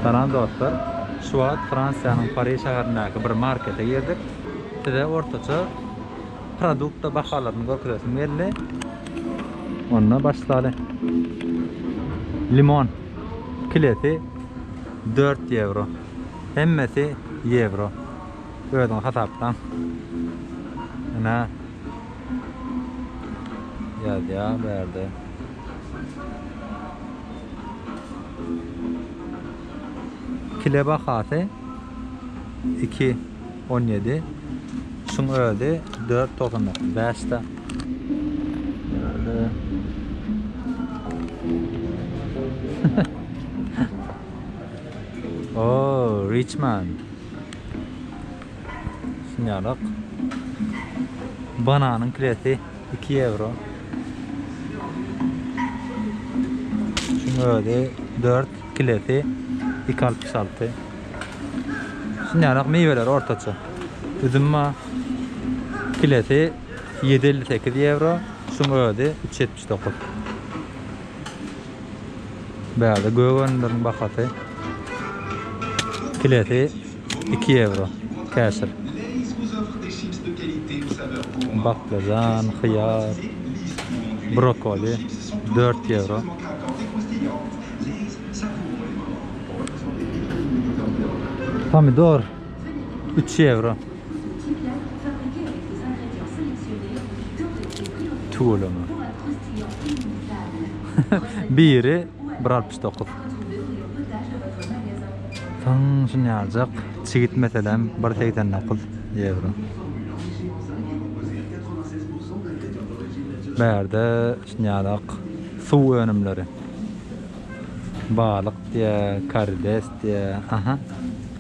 Salam dostlar. Şu wagt Fransiýanyň Pari şäherindäki bir markete girdik. Size ortaça produkta bahalaryny görkezesim geldi. Onda başlaly. Limon kilesi 4 ýewro. Hemmesi ýewro. Özüňiz hasaplaň. Ine. Ýazýar bu ýerde. Kile bahasy iki on ýedi şuň özi dört togsan dokuz bäş da Oo Richman şunýalak bananyň kilesi Iki ýewro. Şuň özi dört kilesi iki altmyş alty. Şunýanak miweler ortaça. Üzüm bar. Kilesi ýedi elli sekiz ýewro. Şuň özi üç ýetmiş dokuz. Bärde gök önümleriň bahasy kilesi iki ýewro. Käşir, baklažan, hyýar, brokoli dört ýewro. Pomidor. 3 ýewro. Tüweleme. Biri 1.69. Soň şunýaljak çigit meselem 1.89 ýewro. Bärde şunýalak suw önümleri. Balyk diýä, karides diýä. Aha.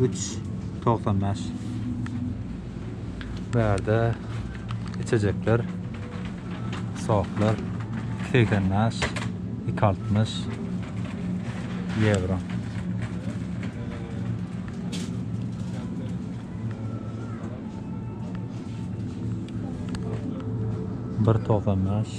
Üç togsan bäş. Bu ýerde içejekler, soklar segsen bäş, iki altmyş ýewro. Bir togsan bäş.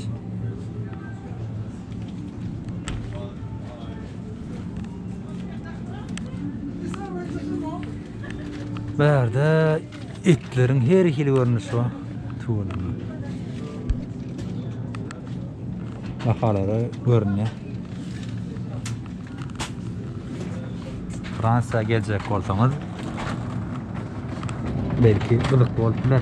Bärde itleriň her hili görnüşi bar. Tuwulary. Bahalary görünýär. Fransiýa geljek bolsaňyz belki gyzykly bolup biler.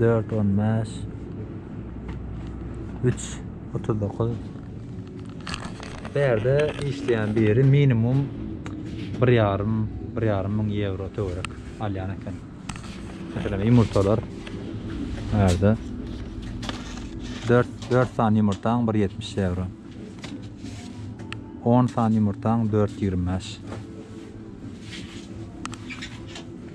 dört on bäş üç otuz dokuz bu ýerde işleýän biri minimum bir ýarym bir ýarym müň ýewro töwerek alýan eken meselem ýumurtalar bu ýerde dört dört sany ýumurtaň bir ýetmiş ýewro on sany ýumurtaň dört ýigrimi bäş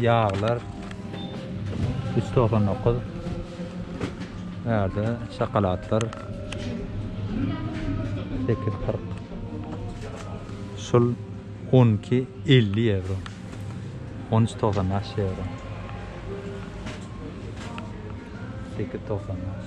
Ýaglar üç togsan dokuz. Ärde şokoladlar sekiz kyrk. Şul on iki elli ýewro. On üç togsan bäş ýewro. Sekiz togsan bäş.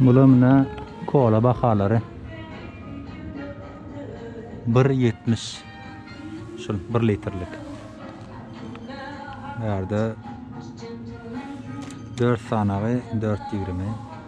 Bula mine kola bahalary. Bir ýetmiş. Şul bir litrlik. Bärde dört sanagy dört ýigrimi.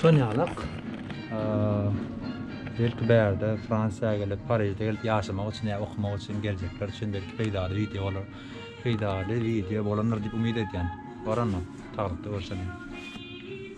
Sonýalak, belki bärde Fransiýa gelip, Parižde gelip ýaşamak üçin ýa okamak üçin geljekler üçin belki peýdaly wideo bolar. Peýdaly wideo bolandyr diýip umyt edýän. Bar onda, taglykda görşeliň.